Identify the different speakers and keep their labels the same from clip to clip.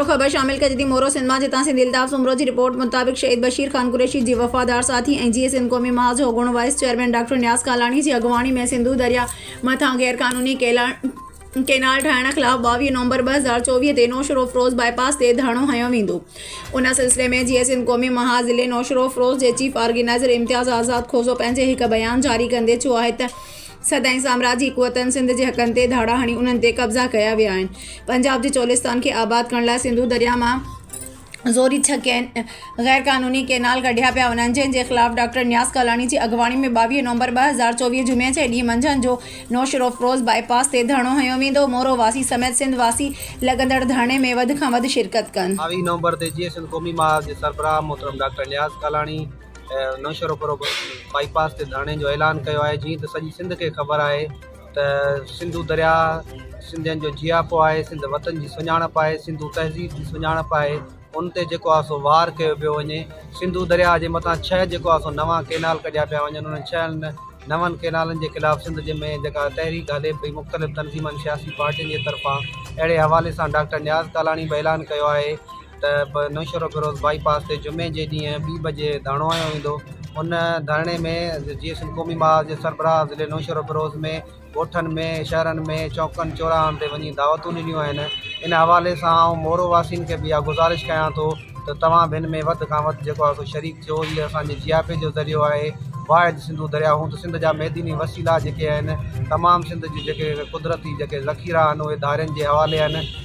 Speaker 1: مورو، خبر شامل ڪجي ٿي مورو سنڌ مان جتان سنڌي الطاف سومرو جي رپورٽ مطابق شهيد بشير خان قريشي جي وفادار ساٿي ۽ جيئي سنڌ قومي محاذ جو اڳوڻو vice chairman doctor Niaz Kalani جي اڳواڻي ۾ سنڌو درياء مٿان غير قانوني ڪينال ٺاهڻ خلاف ٻاويهه نومبر ٻه هزار چوويهه تي نوشهروفروز باء پاس تي ڌرڻو هنيو ويندو ان سلسلي ۾ جيئي سنڌ قومي محاذ ضلعي نوشهروفروز جي چيف آرگنائيزر امتياز آزاد کوسو پنهنجي هڪ بيان جاري ڪندي چيو آهي ته سدائين سامراجي قوتن سنڌ جي حقن تي ڌاڙا هڻي انهن تي قبضا ڪيا ويا آهن. پنجاب جي چولستان کي آباد ڪرڻ لاء سنڌو درياهه مان زوري ڇهه ڪين غير قانوني ڪينال ڪڍيا پيا وڃن جنهن جي خلاف ڊاڪٽر نياز ڪالاڻي جي اڳواڻي ۾ ٻاويهه نومبر ٻه هزار چوويهه جمعي جي ڏينهن منجهند جو نوشهروفروز باء پاس تي ڌرڻو هنيو ويندو مورو واسي سميت سنڌ واسي لڳندڙ ڌرڻي ۾ وڌ کان وڌ شرڪت ڪن. ٻاويهه نومبر تي جيئي سنڌ
Speaker 2: قومي محاذ جي سربراهه محترم doctor Niaz Kalani, Naushahro Feroze bypass تي ڌرڻي جو اعلان ڪيو آهي جيئن ته سڄي سنڌ کي خبر آهي ته سنڌو درياء سنڌين جو جياپو آهي سنڌ وطن جي سڃاڻپ آهي سنڌو تهذيب جي سڃاڻپ آهي ان تي جيڪو آهي سو وار ڪيو پيو وڃي سنڌو درياء جي مٿان ڇهه جيڪو آهي سو نوان ڪينال ڪڍيا پيا وڃن انهن ڇهن نون ڪينالن جي خلاف سنڌ جي ۾ جيڪا تحريڪ هلي پئي مختلف تنظيمن سياسي پارٽين جي طرفان اهڙي حوالي سان ڊاڪٽر نياز ڪالاڻي به اعلان ڪيو آهي ته به نوشهروفيروز بائي پاس تي جمعي جي ڏينهن ٻي بجي ڌرڻو هنيو ويندو ان ڌرڻي ۾ جيئي سنڌ قومي محاذ جي سربراهه ضلعي نوشهروفيروز ۾ ڳوٺن ۾ شهرن ۾ چوڪن چوراهن تي وڃي دعوتون ڏنيون آهن ان حوالي سان آئون مورو واسين کي به اها گذارش ڪيان ٿو ته توهان به ان ۾ وڌ کان وڌ جيڪو آهي سو شريڪ ٿيو هي اسانجي جياپي جو ذريعو آهي واحد سنڌو درياء هوند سنڌ جا معدني وسيلا جيڪي آهن تمام سنڌ جي جيڪي قدرتي جيڪي ذخيرا آهن اهي ڌارين جي حوالي آهن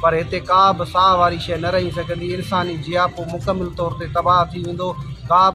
Speaker 2: پر هتي ڪا به ساهه واري شيء نه رهي سگهندي، انساني جياپو مڪمل طور تي تباهه ٿي ويندو، ڪا به.